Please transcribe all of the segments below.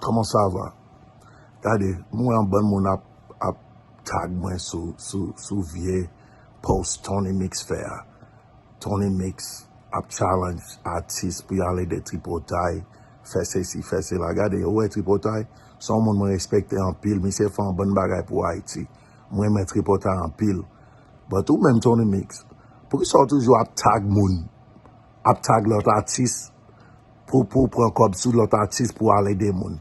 Koman sa va? Gade, m wè anbann moun ap tag mwen sou vye post Tony Mix fè a. Tony Mix ap challenge atis pou y ale de tripotay, fè sesi, fè sela. Gade, ou wè tripotay? Se yon moun mwen respekte anpil. Misye fè anbann bagay pou Ayiti. M renmen tripotay anpil. But ou menm Tony Mix, poukisa ou toujou ap tag moun? ap tag lòt atis pou pou pran kòb sou lòt atis pou al ede moun.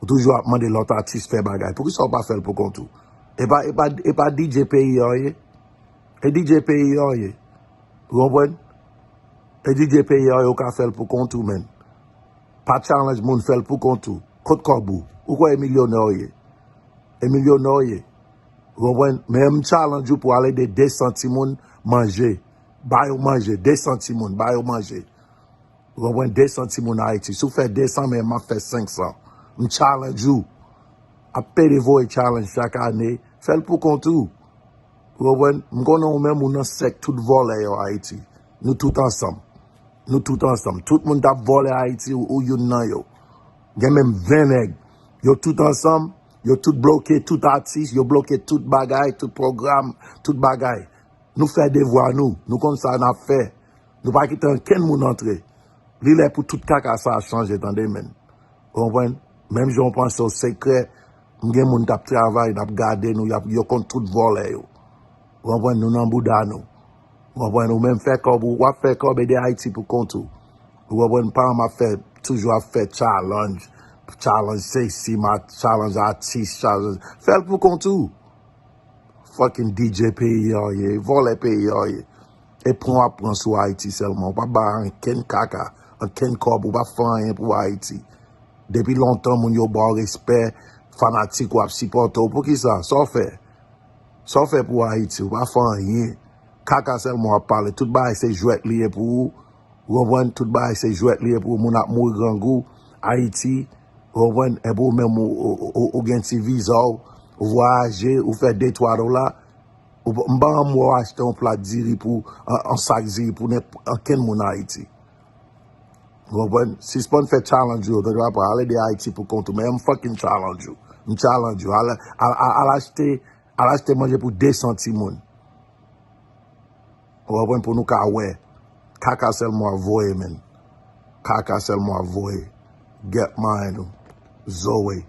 Ou toujou ap mande lòt atis fè bagay. Poukisa ou pa fè l pou kont ou? E pa e pa e pa DJ peyi an ye? E DJ peyi an ye? Ou konprann? E DJ peyi an ye ou ka fè l pou kont ou menn. Pa challenge moun fè l pou kont ou. Kot kòb ou? Ou kwè e milyonè ou ye? E milyonè ou ye? Ou konprann? Men m challenge ou pou al ede 200 timoun manje. Ba yo manje, 200 timoun, ba yo manje. Ou konprann, 200 timoun Ayiti. Si w fè 200 men, m ap fè 500. M challenge ou. Ap pede voye challenge chak ane. Fè l pou kont ou. Ou konprann? M konnen ou menm ou nan sèk tout vòlè yo Ayiti. Nou tout ansanm. Nou tout ansanm. Tout moun k ap vòlè Ayiti, ou youn nan yo. Gen menm 20 nèg. Yo tout ansanm. Yo tout bloke tout atis. Yo bloke tout bagay, tout pwogram, tout bagay. Nou fè devwa nou, nou konn sa nap fè, nou pa kite ankenn moun antre. Li lè pou tout kaka sa a chanje tande menn. Ou konprann? Menm jan ou panse ou sekrè, m gen moun kap travay, nap gade nou, yap yo konn tout vòlè yo. Ou konprann? Nou nan bouda nou. Ou konprann? Ou menm fè kòb ou, wap fè kòb ede Ayiti pou kont ou. Ou konprann? Pa anm ap fè, toujou ap fè chalanj, chalanj sesi, ma, chalanj atis, chalanj, fè l pou kont ou. Fucking DJ peyi a ou ye, vòlè peyi a ou ye. E pran w ap pran sou Ayiti sèlman. Ou pa bay ankenn kaka, ankenn kòb, ou pa fè anyen pou Ayiti. Depi lontan moun yo ba w respè, fanatik ou ap sipòte w. Poukisa? Sa w fè? Sa w fè pou Ayiti? Ou pa fè anyen. Kaka sèlman w ap pale. Tout bagay se jwèt li ye pou ou. Ou konprann? Tout bagay se jwèt li ye pou ou. Moun ap mouri grangou. Ayiti, Ou konprann? Epi ou menm ou gen ti viza w, ou vwayaje, ou fè de twa dola, m pa ranm wè w achte yon plat diri pou, yon sak diri pou ankenn moun Ayiti. Ou konprann? Sispann fè challenge ou yo, pèp la pa ale de Ayiti pou kont ou, men m fucking challenge ou. M challenge ou. Al achte, al achte manje pou 200 timoun. Ou konprann pou nou ka wè. Kaka selman wap voye menn. Kaka selman wap voye. Get mind ou. Zoe.